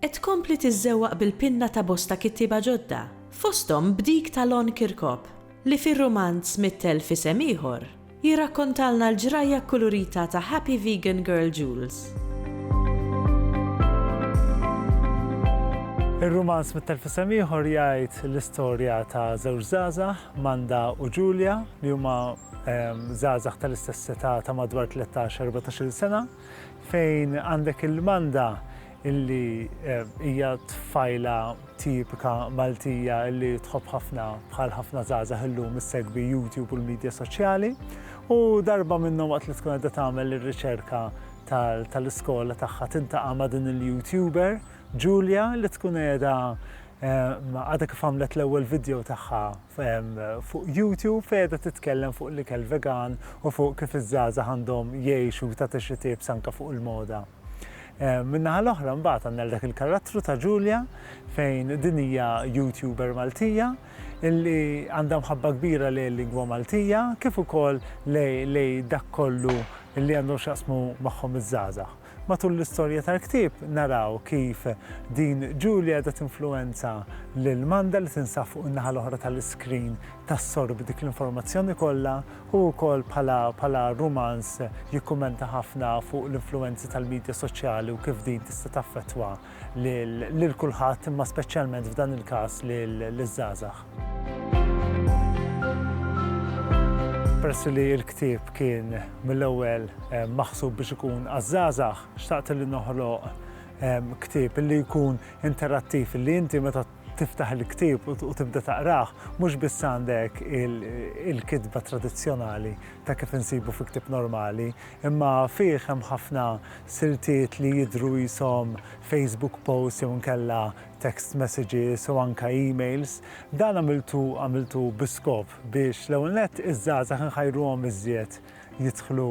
Qed tkompli tiżżewwaq bil-pinna ta' bosta kittieba ġodda, fosthom b'dik ta' Lon Kirkop, li fir-rumanz Mitt Elf Isem Ieħor jirrakkontalna l-ġrajja kkulurita ta' happy vegan girl Jules. Ir-rumanz Mitt Elf Isem Ieħor jgħid l-istorja ta' żewġ żgħażagħ, Manda u Julia, li huma żgħażagħ tal-istess età ta' madwar tlettax, erbatax-il sena, fejn għandek il-Manda illi hija tfajla tipika Maltija illi tħobb ħafna bħal ħafna żgħażagħ illum issegwi YouTube u l-midja soċjali u darba minnhom waqt li tkun qed tagħmel ir-riċerka tal-iskola tagħha tintaqa' ma' din il-YouTuber Julia li tkun qiegħda għadha kif għamlet l-ewwel video tagħha fuq YouTube fejda titkellem fuq l-ikel vegan u fuq kif iż-żaza għandhom jgħixu ta' tixitib sanka fuq il-moda. Min-naħa l-oħra mbagħad għandna dak il-karattru ta' Julia fejn din hija YouTuber Maltija illi għandha mħabba kbira lejn il-lingwa Maltija kif ukoll lejn dak kollu li għandhom x'jaqsmu magħhom iż-żgħażagħ. Matul l-istorja tal-ktieb naraw kif din Julia qiegħda tinfluwenza lil Manda li tinsab fuq in-naħa l-oħra tal-iskrin tassorbi dik l-informazzjoni kollha Hu wkoll bħala rumanz jikkummenta ħafna fuq l-influwenzi tal-midja soċjali u kif din tista' taffettwa lil kulħadd imma speċjalment f'dan il-każ liż-żgħażagħ. Peress li l-ktieb kien mill-ewwel ehm, maħsub biex ikun għaż-żgħażagħ, xtaqt li noħloq ehm, ktieb li jkun interattiv li inti meta tiftaħ il-ktieb u tibda taqrah, mhux biss għandek il-kitba tradizzjonali ta' kif insibu fi ktieb normali, imma fih hemm ħafna siltiet li jidhru qishom Facebook posts jew inkella text messages u anke emails. Dan għamiltu għamiltu bi skop biex l-ewwel nett iż-żgħażagħ inħajruhom iżjed jidħlu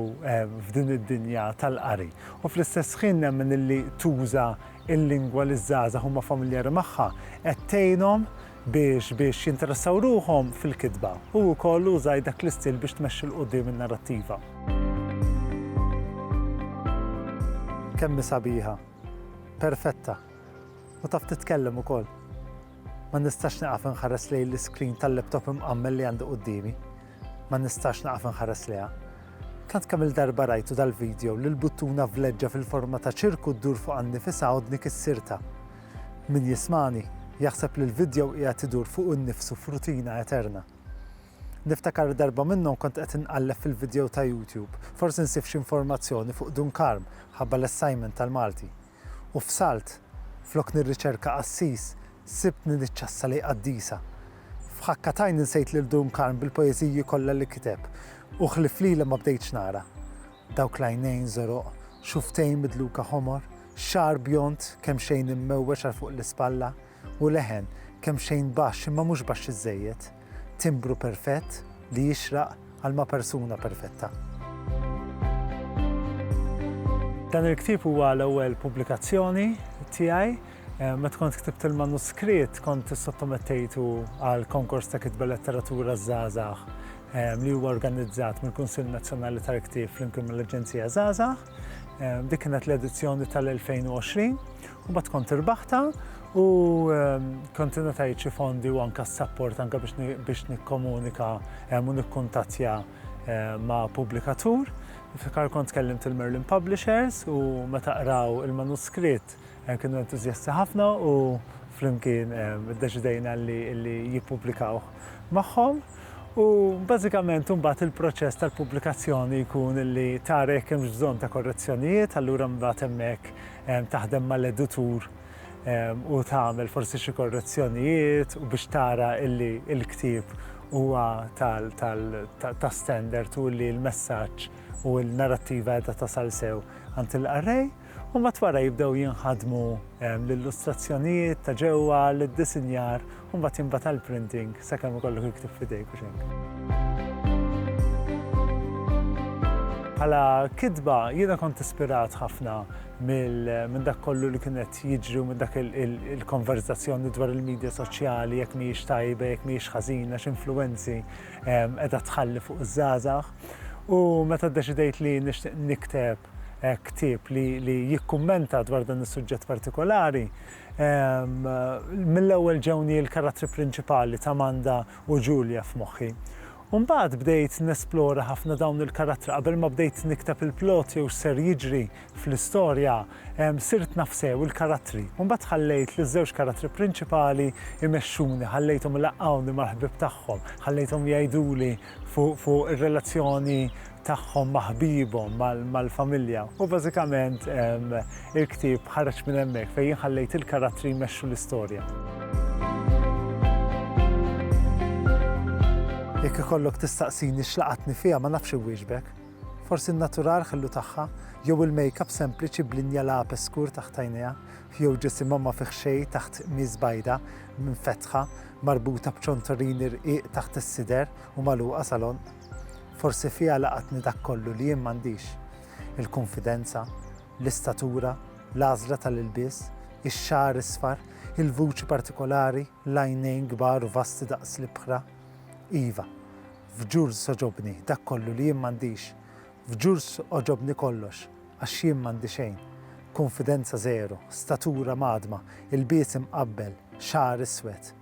f'din id-dinja tal-qari u fl-istess ħin nemmen illi tuża l-lingwa li ż-żgħażagħ huma familjari magħha qed tgħinhom biex biex jinteressaw ruħhom fil-kitba u wkoll użajt dak l-istil biex tmexxi 'l quddiem in-narrattiva. Kemm hi sabiħa, perfetta u taf titkellem ukoll. Ma nistax nieqaf inħares lejn l-iscreen tal-laptop imqammel li għandi quddiemi. Ma nistax naqaf inħares lejha. Tant kemm il-darba rajtu dal-video li l-buttuna vleġġa fil-forma ta' ċirku ddur fuq għal nifisha għodni kissirtha. Min jismagħni, jaħseb li l-video qiegħed idur fuqu nnifsu f'rutina eterna. Niftakar li darba minnhom kont qed inqalleb fil-video ta' YouTube, forsi nsib xi informazzjoni fuq Dunkarm, ħabba l-assignment tal-Malti. u fsalt, flok nirriċerka qassis, sibtni niċċassa lejn qaddisa. F'ħakka t'għajn insejt lil Dun Karm bil-poeżiji kollha li kiteb, u ħlief lilha ma bdejtx nara. Dawk l-għajnejn żoroq, xufftejn midluka ħomor, xagħar bjond kemxejn immewweġ għal fuq l-ispalla, u leħen kemxejn baxx imma mhux baxx iżżejjed, timbru perfett li jixraq għal ma' persuna perfetta. Dan il-ktieb huwa l-ewwel pubblikazzjoni tiegħi. Eh, meta kont ktibt il-manuskritt kont sottomettejtu għal konkors ta' kitba letteratura żgħażagħ eh, li huwa organizzat mill-Kunsill Nazzjonali tal-Ktieb flimkien mill-Aġenzija Żgħażagħ. Eh, dik kienet l-edizzjoni tal-2020 U mbagħad kont irbaħtha u kont ingħatajt xi fondi u anke s-sapport anke biex nikkomunika u nikkuntattja ma' pubblikatur. Niftakar kont kellimt il-Merlin Publishers u meta qraw il-manuskritt kienu entużjasti ħafna u flimkien iddeċidejna li jippubblikawh magħhom. U bażikament imbagħad il-proċess tal-pubblikazzjoni jkun li tara jekk hemmx bżonn ta' korrezzjonijiet, allura mbagħad hemmhekk taħdem mal-editur u tagħmel forsi xi korrezzjonijiet u biex tara illi l-ktieb huwa ta' standard u li l-messaġġ u l-narrattiva qiegħda tasal sew għand il-qarrej, u mbagħad wara jibdew jinħadmu l-illustrazzjonijiet ta' ġewwa, l-iddisinjar u mbagħad jinbagħat għall-printing sakemm ikollok iktub f'idejk u x'hekk. Bħala kitba jiena kont ispirat ħafna minn dak kollu li kien qed jiġri u minn dak il-konverzazzjoni dwar il-medja soċjali jekk mhijiex tajba, jekk mhijiex ħażina, x'influwenzi ehm, qiegħda tħalli fuq iż-żgħażagħ. U meta ddeċidejt li nixtieq nikteb eh, ktieb li jikkummenta dwar dan is-suġġett partikolari, Mill-ewwel ġewni l-karattri prinċipali t'Amanda u Julia f'moħħi. U mbagħad bdejt nesplora ħafna dawn il-karattri qabel ma bdejt nikteb il-plot jew x'ser jiġri fl-istorja, sirt naf sew il-karattri. U mbagħad ħallejt liż-żewġ karattri prinċipali jmexxuni, ħallejthom ilaqqgħuni mal-ħbieb tagħhom, ħallejthom jgħiduli fuq ir-relazzjoni tagħhom ma' ħbiebhom, mal-familja. U bażikament il-ktieb ħareġ minn hemmhekk fejn jien ħallejt il-karattri jmexxu l-istorja. Jekk ikollok tistaqsini x'laqatni fiha ma nafx inwieġbek. Forsi n-natural ħillu tagħha, jew il-makeup sempliċi b'linja lapes skur taħt għajnejha, jew ġisimha ma fih xejn taħt qmiż bajda minfetħa, marbuta b'ċontorini rqiq taħt is-sider u magħluqa salon. Forsi fiha laqatni dak kollu li jien m'għandix, il-kunfidenza, l-istatura, l-għażla tal-ilbies, ix-xagħar isfar, il-vuċi partikolari, l-għajnejn kbar u vasti daqs l-ibħra. Iva, f'Jules għoġobni dak kollu li jien m'għandix. F'Jules għoġobni kollox, għax jien m'għandi xejn. Kunfidenza żero, statura mgħaddma, ilbies imqabbel, xagħar iswed.